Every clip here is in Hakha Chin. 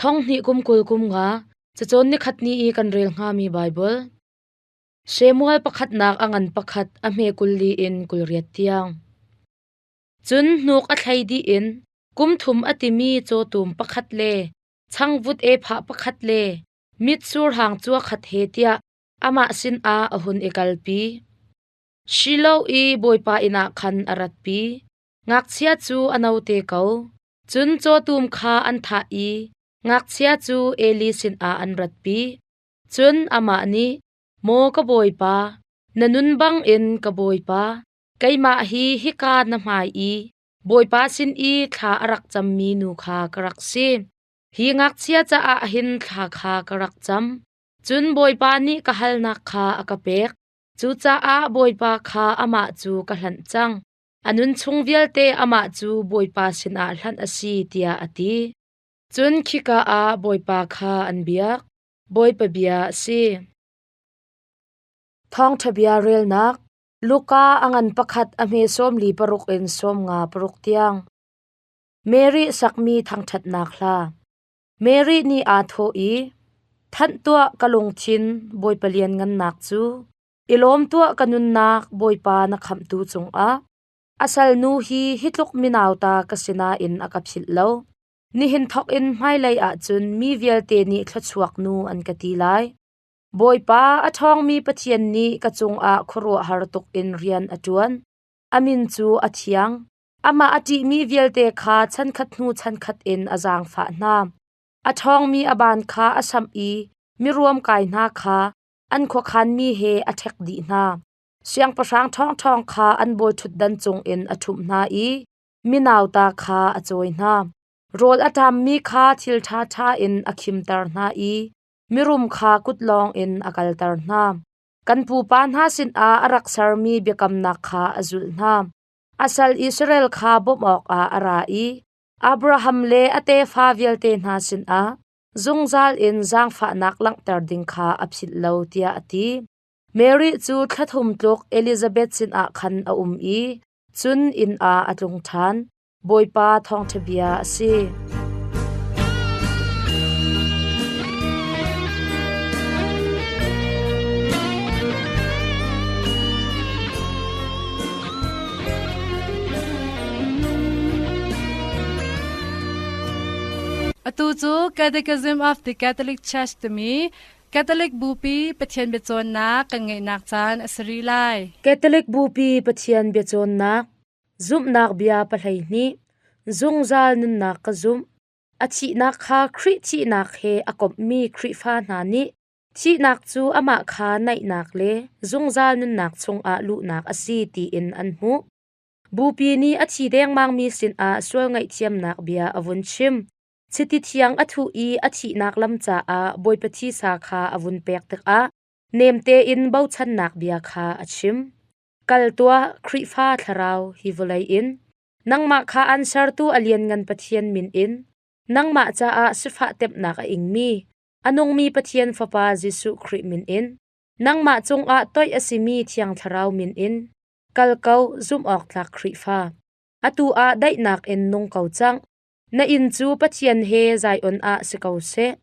Thonghnih kum kul kum nga cacawn nikhat ni i kan rel hngami Baibal. Shemuel pakhatnak a ngan pakhat a hme kul li in kul riat tiang. Cun hnuk a thlei dih in kum thum a timi cawtum pakhat le changvut e pha pakhat le mitsur hang cua khat he tiah amah sin ah a hun i kalpi. Shiloh i Bawipa inn ah khan a ratpi. Ngakchia cu a no te ko. Cun cawtum kha an thah i ngakchia cu Eli sinah an ratpi. Cun amah nih, “Maw ka bawipa, na nun bangin ka bawipa, keimah hi hika na hmai i Bawipa sin i thla a rak cammi nu kha ka rak si. Hi ngakchia caah hin thla kha ka rak cam. Cun Bawipa nih ka halnak kha a ka pek. Cucaah Bawipa kha amah cu ka hlanh cang. A nunchung vialte amah cu Bawipa sinah hlanh a si tiah a ti. Cun khika ah Bawipa kha an biak. Bawipa bia a si. Thawngṭha bia relnak Luka a ngan pakhat a hme sawmli paruk in sawm nga paruk tiang. Mary sakmi thangṭhatnak hla. Mary nih aa thawh i, Thanh tuah ka lungthin, Bawipa lianngannak cu. I lawm tuah ka nunnak Bawipa na khamhtu cungah. A salnu hi hi tluk minauta ka sinain a ka philh lo. Nihin thawk in hmailei ah cun mi vialte nih thluachuak nu an ka ti lai. Bawipa a ṭhawngmi Pathian nih ka cungah khuaruahhar tuk in rian a ṭuan. Amin cu a thiang. Amah a ṭihmi vialte kha chankhat hnu chankhat in a zaangfah hna. A ṭhawngmi a ban kha a samh i miruam kai hna kha an khuakhanmi he a ṭhek dih hna. Siangpahrang ṭhawngṭhawng kha an bawiṭhutdan cungin a ṭhumh hna i mi nauta kha a cawi hna. Rawl a ṭammi kha thil ṭhaṭha in a khimter hna i mirum kha kut lawngin a kalter hna. Kan pupa hna sinah a rak sermi biakamnak kha a zulh hna. A sal Israel kha bawmh awkah a ra i Abraham le a tefa vialte hna sinah, zungzal in zaangfahnak langhter ding kha a philh lo tiah a ti. Mary cu thla thum tluk Elizabeth sinah khan a um i cun inn ah a tlung ṭhan. Bawipa thawngṭhabia a si. Atu cu Catechism of the Catholic Church timi Catholic Bupi Pathian biacawnnak kan ngeihnak caan a si rih lai. Catholic Bupi Pathian biacawnnak zumhnak bia pahlei nih zungzal nunnak ka zumh a thihnak kha Khrih thihnak he a komhmi Khrihfa hna nih thihnak cu amah kha naihnak le zungzal nunnak chungah luhnak a si tiin an hmuh. Bupi nih a thi dengmangmi sinah sual ngaihthiamnak bia a vun chim. Chiti thiang a thuh i a thihnak lam caah Bawipa Thisa kha a vun pek tikah nem tein bochannak bia kha a chim. Kal tuah, Khrihfa thlarau hi vawlei in! Nangmah kha an Sertu a Lianngan Pathian min in nangmah caah sifah temhnak a ingmi, a nungmi Pathian Fapa Jesuh Khrih min in, nangmah cungah toih a simi Thiang Thlarau min in, Kal ko, zumhawktlak Khrihfa. Atu ah daihnak in nung ko cang. Na inn cu Pathian he Zion ah si ko seh.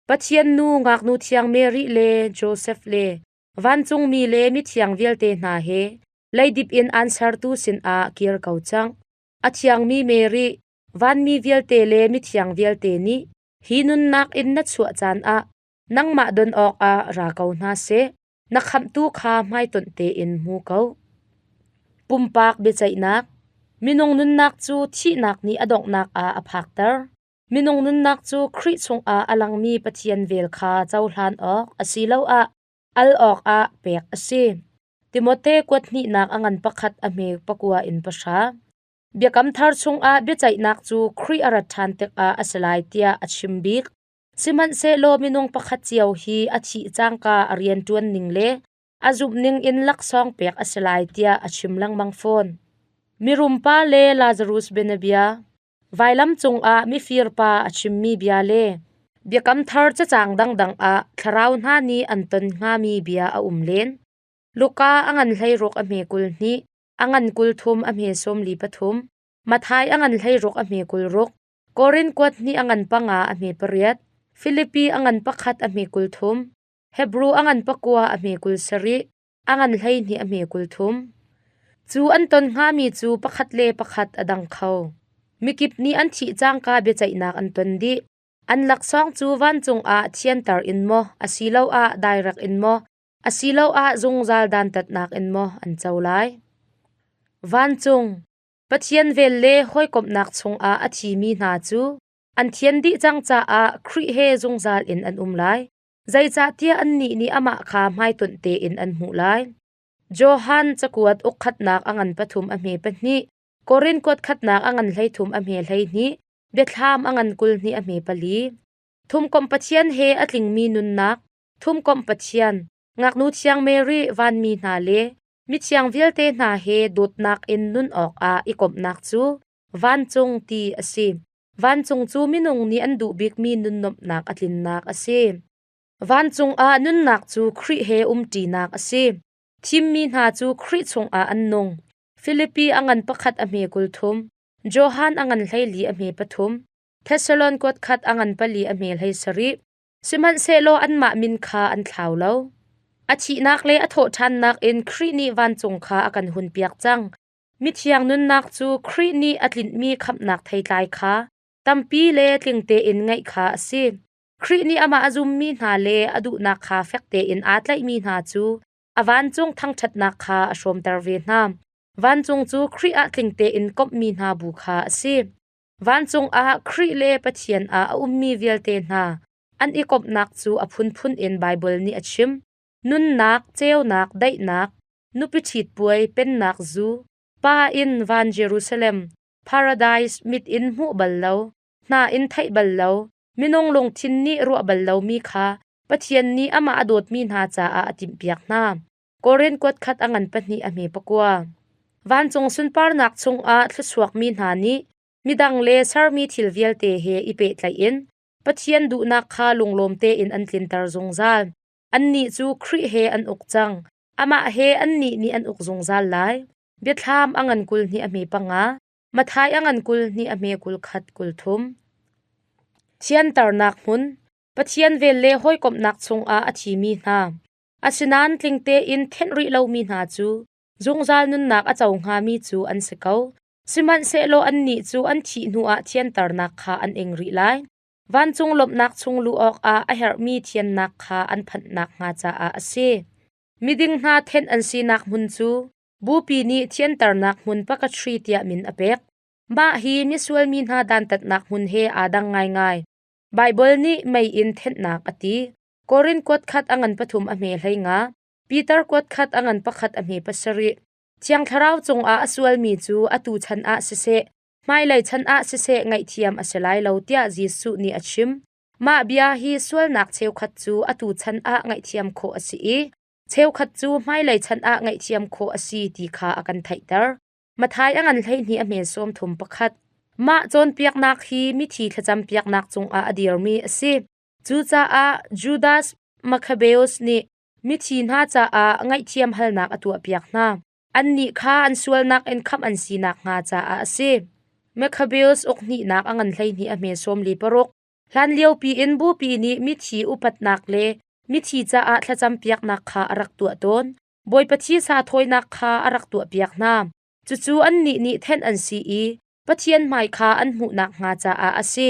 Pathian nu ngaknu thiang Mary le Josef le vancungmi le mithiang vialte hna he leidip in an sertu sinah kir ko cang. A thiangmi Mary, vanmi vialte le mithiang vialte nih hi nunnak in na chuah caan ah nangmah don awkah ra ko hna seh. Na khamhtu kha hmaitonh tein hmu ko. Pumpak biaceihnak Minung nunnak cu thihnak nih a donghnak ah a phakter. Minung nunnak cu Khrih chungah a langmi Pathian vel kha cohlan awk asiloah al awkah pek a si. Timote kuat hnihnak a ngan pakhat a hme pakua in pahra. Biakam thar chungah biaceihnak cu Khrih a rat ṭhan tikah a si lai tiah a chim bik. Sihmanhsehlaw minung pakhat cio hi a thih cangka a rianṭuan ning le a zumh ning in laksawng pek a si lai tiah a chim lengmang fawn. Mirum pa le Lazarus bianabia Vailam cungah mifir pa a chimmi bia le Biakam Thar cacang dangdang ah thlarau hna nih an ton hngami bia a um len. Luka a ngan hleiruk a hme kul hnih, a ngan kul thum a hme sawmli pathum, Mathai a ngan hleiruk a hme kul ruk, Korin kuat hnih a ngan panga a hme pariat, Filipi a ngan pakhat a hme kul thum, Hebru a ngan pakua a hme kul sarih, a ngan hleihnih a hme kul thum. Cu an ton hngami cu pakhat le pakhat a dang kho. Mikip nih an thih cangka biaceihnak an ton dih. An laksawng cu vancung ah thianter in maw asiloah dairak in maw asiloah zungzal dantatnak in maw an co lai? Vancung Pathian vel le hawikomhnak chungah a thimi hna cu an thian dih cang caah Khrih he zungzal in an um lai, zeicahtiah annih nih amah kha hmaitonh tein an hmuh lai. Johan cakuat ukkhatnak a ngan pathum a hme pahnih, Korin kuat khatnak a ngan hleithum a hme hleihnih, biathlam a ngan kul hnih a hme pali. Thumkomh Pathian he a tlingmi nunnak, Thumkomh Pathian, ngaknu thiang Mary vanmi hna le mithiang vialte hna he dawtnak in nun awkah i komhnak cu vancung ti a si. Vancung cu minung nih an duh bikmi nunnuamhnak a tlinnak a si. Vancung ah nunnak cu Khrih he umṭinak a si. Thimmi hna cu Khrih chungah an nung. Filipi a ngan pakhat a hme kul thum, Johan a ngan hleili a hme pathum, Thesalonik khat a ngan pali a hme hlei sarih, Sihmanhsehlaw anmah min kha an thlau lo. A thihnak le a thawhṭhannak in Khrih nih vancung kha a kan hunpiak cang. Mithiang nunnak cu Khrih nih a tlinmi khamhnak theitlai kha tampi le tlingte in ngeih kha a si. Khrih nih amah a zummi hna le a duhnak kha fek tein aa tlaihmi hna cu a vancung thangṭhatnak kha a hrawmter ve hna. Vancung cu Khrih ah tling tein komhmi hna bu kha a si. Vancung ah Khrih le Pathian ah a ummi vialte hna an i komhnak cu a phunphun in Baibal nih a chim: nunnak, ceunak, daihnak, nupi ṭhitpuai, pennak zu, pa in van Jerusalem, paradais mit in hmuh bal lo, hna in theih bal lo, minung lungthin nih ruah bal lomi kha Pathian nih amah a dawtmi hna caah a timhpiak hna. Korin kuatkhat a ngan pahnih a hme pakua. Vancung sunparnak chungah thlusuakmi hna nih midang le sermi thil vialte he i pehtlaih in Pathian duhnak kha lunglawm tein an tlinter zungzal. Annih cu Khrih he an uk cang. Amah he annih nih an uk zungzal lai. Biathlam a ngan kul hnih a hme panga, Mathai a ngan kul hnih a hme kul khat kul thum. Thianternak hmun Pathian vel le hawikomhnak chungah a thimi hna. Asinain tling tein thenh rih lomi hna cu zungzal nunnak a co hngami cu an si ko. Sihmanhsehlaw annih cu an thih hnuah thianternak kha an ing rih lai. Vancung lawmhnak chung luh awkah a herhmi thiannak kha an phanh nakhnga caah a si. Miding hna thenh an sinak hmun cu bupi nih thianternak hmun pakatri tiah min a pek. Mah hi misual mi hna dantatnak hmun he aa dang ngaingai. Baibal nih mei in thenhnak a ti. Korin kuat khat a ngan pathum a hme hlei nga. Peter kuat khat a ngan pakhat a hme pasarih. Thiang Thlarau cungah a sualmi cu atu chan ah siseh, hmailei chan ah siseh ngaihthiam a si lai lo tiah Jesuh nih a chim. Mah bia hi sualnak cheukhat cu atu chan ah ngaihthiam khawh a si i cheukhat cu hmailei chan ah ngaihthiam khawh a si ti kha a kan theihter. Mathai a ngan hleihnih a hme sawm thum pakhat. Mah cawnpiaknak hi mithi thlacam piaknak cungah a dirmi a si. Cucaah Judas Makhabeus nih mithi hna caah ngaihthiam halnak a tuahpiak hna. Annih kha an sualnak in khamh an si nakhnga caah a si. Makhabeus ukhnihnak a ngan hleihnih a hme sawmli paruk, hlanliopi in bupi nih mithi upatnak le mithi caah thlacampiaknak kha a rak tuah tawn. Bawipa thisa thawinak kha a rak tuahpiak hna. Cucu annih nih thenh an si i Pathian hmai kha an hmuh nakhnga caah a si.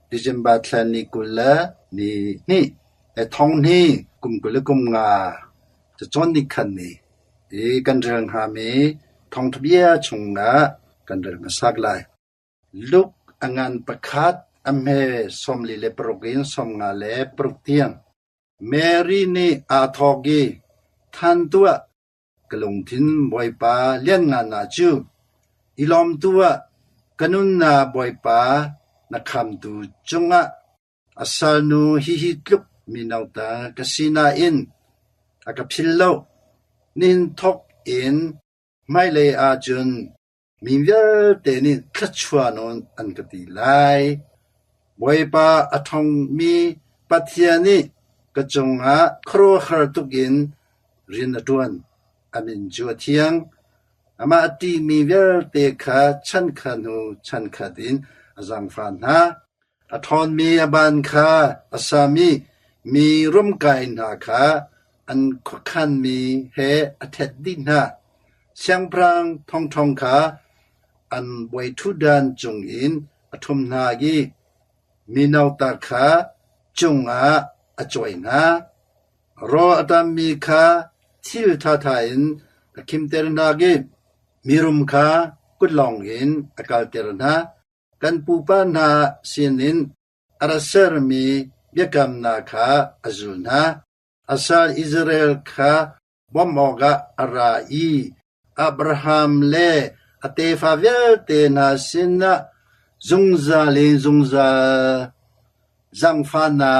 December thla ni kul le ni hnih, le thonghni kum kul le kum nga cacawn ni khan ni i kan rel hngami thawngṭha bia chungah kan rel hmasak lai. Luke a ngan pakhat a hme sawmli le paruk in sawmnga le paruk tiang Mary nih aa thawk i, “Tthan tuah! Ka lungthin Bawipa lianngannak cu i lawmtu ah ka nunnak Bawipa na khamtu cungah a salnu hihi tluk mino ta ka si nain a ka phil lo. Nihin thawk in hmailei ah cun Mi vialte nih thluachuah nawn an ka ti lai. Bawipa a ṭhawngmi Pathian nih ka cungah khuaruahhar tukin rian a ṭuan. Amin cu a thiang. Amah a ṭihmi vialte kha chankhat hnu chankhat in a zangfah hna. A ṭhawnmi a ban kha a sam i mi rumkai hna kha an khuakhanmi he a ṭhet dih hna. Siangpahrang thongṭhong kha an bawiṭhutdan cungin a ṭhum hna i mino ta kha cungah a cuai hna. Rawl a tammi kha thil ṭhaṭha in a khimter hna i mirum kha kutlawng in a kalter hna. Kan pupa hna sinin a ra sermi biakamnak kha a zul hna. A sal Israel kha bawmh awkah a ra i Abraham le a tefa vialte hna sinah zungzal in zungzal zaangfah hna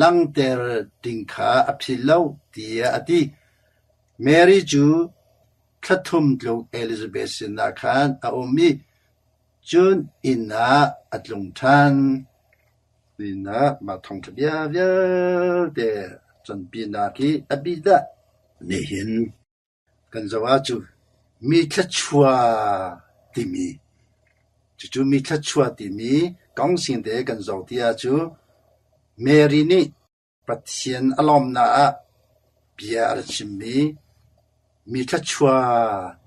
langter ding kha a philh lo, tiah a ti. Mary cu thla thum tluk Elizabeth sinah khan a um i Cun inn ah a tlung ṭhan. Inn ah mah thawngṭha bia vialte cawnpinak hi a bidah nihin kan zoh ahcun mi thluachuah timi, cucu mi thluachuah timi kong singte kan zoh ti ahcun Mary nih Pathian a lawmnak ah bia a rak chimmi mi thluachuah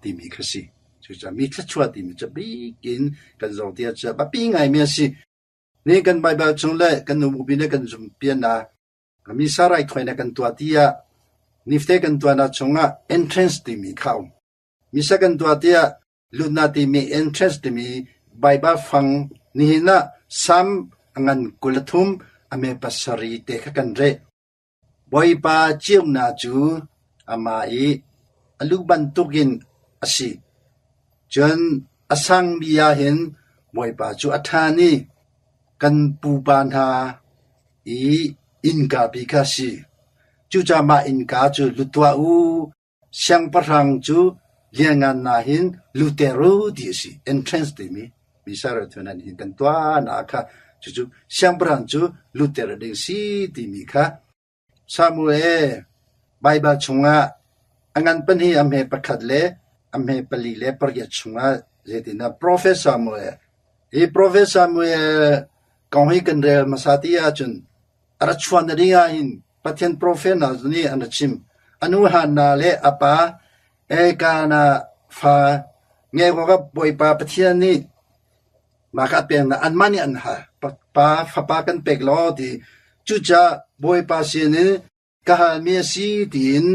timi kha a si. Cucaah mi thluachuah timi cu a bik in kan Zawttea cu a biapi ngaimi a si. Nihin kan Baibal chung le kan nubupi nih kan zumhpianak, misa raithawinak kan tuah tiah nifte kan tuahnak chungah entrance timi kha a um. Misa kan tuah tiah Luhnate meh entrance timi Baibal fang nihin ah Salm a ngan kul a thum a mee pasarih te kha kan reh. Bawipa ceunak cu amah i a lu bantuk in a si. Cun a sangmi ahhin Bawipa cu a ṭhan i kan pupa hna i innkapi kha a si. Cucaah mah innka cu lu tuah u, Siangpahrang cu lianngan nain lu teh ruh ti a si, entrance timi misal ral thawnh ah nihin kan tuahnak kha cucu siangpahrang cu lu teh rat ding a si timi kha Samuel Baibal chungah a ngan pahnih a hme pakhat le a hme pali le pariat chungah zeitindah profet Samuel hi profet Samuel kong hi kan rel hmasa ti ahcun A rak chuah na ding ahhin Pathian profet hna cu nih an rak chim: A nu Hanna le a pa Elkanah fa ngeih awkah Bawipa Pathian nih mah kha a peknak anmah nih an hal. Pa fapa kan pek law ti cucaah Bawipa sinin ka halmi a si tiin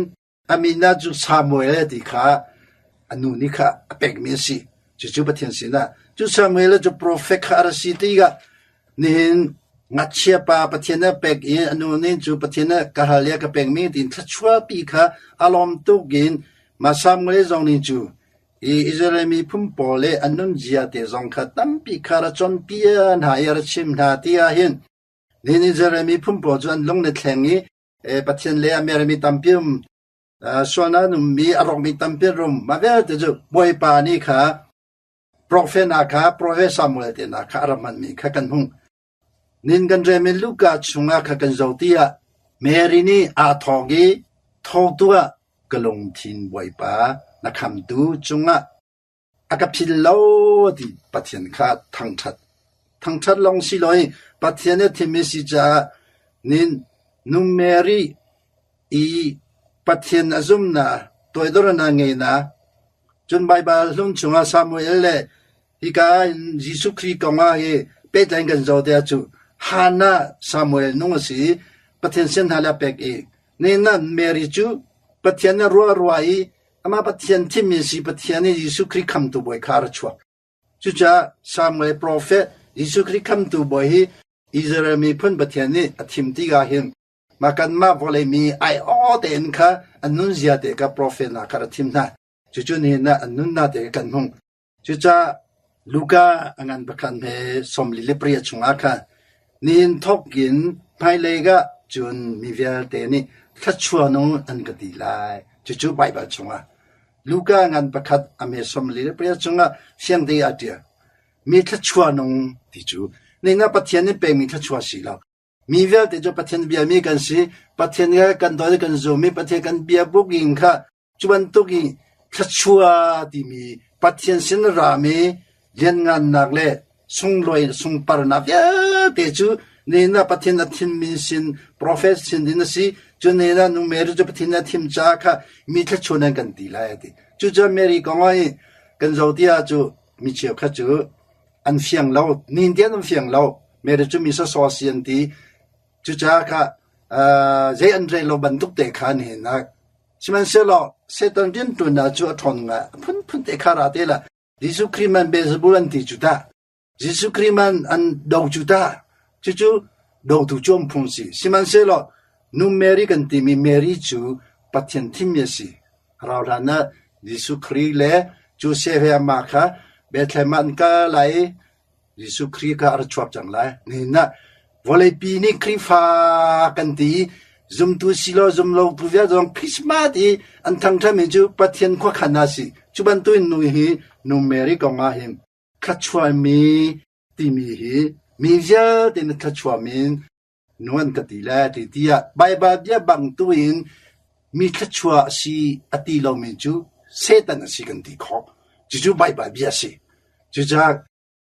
Amina cu Samuel ti kha a nu nih kha a pekmi a si. Cucu Pathian sinah. Cu Samuel cu profet kha a ra si tikah nihin ngakchia pa Pathian a pek i a nu nih cu Pathian a ka hal i a ka pekmi tiin thluachuahpi kha a lawm tuk in mah Samuel zong nih cu i Israel mi phun pawl le an nunzia te zong kha tampi kha ra cawnpi hna i a ra chim hna ti ahhin nihin Israel mi phun pawl cu an lung ne thleng i Pathian le a mermi tampi um, sual an ummi a rawkmi tampi an rum. Mah vialte cu Bawipa nih kha profet hna kha profet Samuel te hna kha a ram hmanmi kha kan hmuh. Nin kan rem in Luka chungah kha kan zo tiah Mary nih aa thawk i thotu ah ka lungthin Bawipa na khamtu cungah A ka phil lo ti Pathian kha a thangṭhat. Thangṭhat lawng si lo i Pathian i a thim i si caah nun Mary i Pathian a zumnak toidornak ngeinak cun Baibal hlun chungah Samuel le hika in Jesuh Khrih kongah i pehtlai in kan zoh tiah cu Hannah Samuel nung a si i Pathian sin hna le a pek i nihin ah Mary cu Pathian nih a ruah rua i Amah Pathian thimmi a si Pathian nih Jesuh Khrih Khamtu Bawi kha a ra chuak. Cucaah Salm le profet Jesuh Khrih Khamtu Bawi hi Israel miphun Pathian nih a thim tikah hin mah kanmah vawlei mi aiawh tein kha an nunzia te kha profet hna kha ra thim hna. Cucu nihin ah an nunnak te kha kan hmuh. Cucah Luka a ngan pakhat he sawmli le pariat chungah khan nihin thawk in hmailei ah cun mi vialte nih thluachuanung an ka ti lai. Cucu Baibal chungah. Luka ngan pakhat a mee sawmli le pariat chungah fiangte ah a ṭial. Mi thluachuanung ti cu ningah Pathian nih pekmi thluachuah a si lo. Mi vialte cu Pathian biami kan si. Pathian he kan dawt i kan zum i Pathian kan biabuk in kha cu bantuk i thluachuah timi Pathian sin ram i lianngannak le sunglawi le sungparnak vialte cu nihin ah Pathian a thimmi sin, profet sin in a si. Cu nihin ah nu Mary cu Pathian a thim caah kha mi thluachuah nan kan ti lai a ti. Cucu Mary kong ah i kan zoh ti ah cu mi cheukhat cu An fiang lo. Nihin an fiang lo. Mete cu mi sawsaw si an ti. Cucaah kah uh, zei an rel lo bantuk te kha an henak. Sihmanhsehlaw Satan rianṭuannak cu a ṭhawn ngai. Phunphun te kha ra te la. Jesuh Khrih man Beelzebul an ti cu tah. Jesuh Khrih man an do cu tah. Cucu dotu cu an phung si. Sihmanhsehlaw nu Mary kan timi Mary cu Pathian thimmi a si. Rauhhlan ah Jesuh Khrih le Josef he amah kha Bethlehem ah an kal lai i Jesuh Khrih kha a ra chuap cang lai. Nihin ah vawleipi nih Khrihfa kan ti i zumtu si law zumlotu vialte zong Christmas i an thangṭhatmi cu Pathian khuakhan ah a si. Cu bantukin nu hi nu Mary kong ah hin thluachuami timi hi mi vialte in a thluachuam in Nuan ka ti le ti tiah Baibal bia bang tuin mi thluachuah a si a ti lomi cu Satan a si kan ti khawh. Cucu Baibal bia a si. Cucaah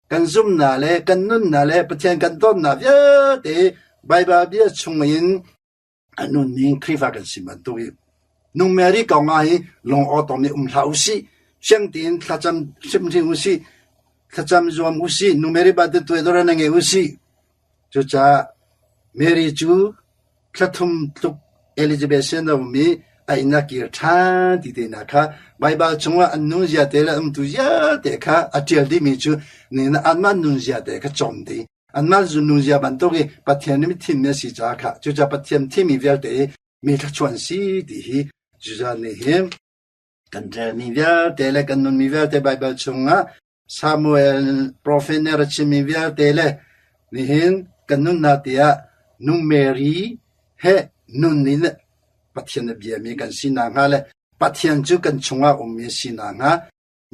kan zumhnak le kan nunnak le Pathian kan dawtnak vialte Baibal bia chungin a nun ning Khrihfa kan si bantuk i Nung Mary kong ah hi lung awtawm i um hlah u sih. Siang tein thlacam hrimhrim u sih. Thlacam zuam u sih. Nu Mary ba te tuai dora na ngei u sih. Cucaah Mary cu thla thum tluk Elizabeth sin a um i a inn a kir ṭhan ti te hna kha Baibal chungah an nunzia te le a umtu ziate kha a ṭial dihmi cu nihin ah anmah nunziate kha cawm dih i anmah nunzia bantuk i Pathian nih mi thimmi a si caah khah cucaah Pathian thimmi vialte hi mi thluachuah an si ti hi Judah nih hin kan ṭialmi vialte le kan nunmi vialte Baibal chungah Samuel profet nih a rat chimmi vialte le nihin kan nunnak tiah nu Mary he nun in Pathian a biami kan si nakhnga le Pathian cu kan chungah ummi a si nakhnga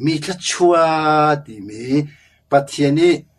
mi thluachuah timi Pathian i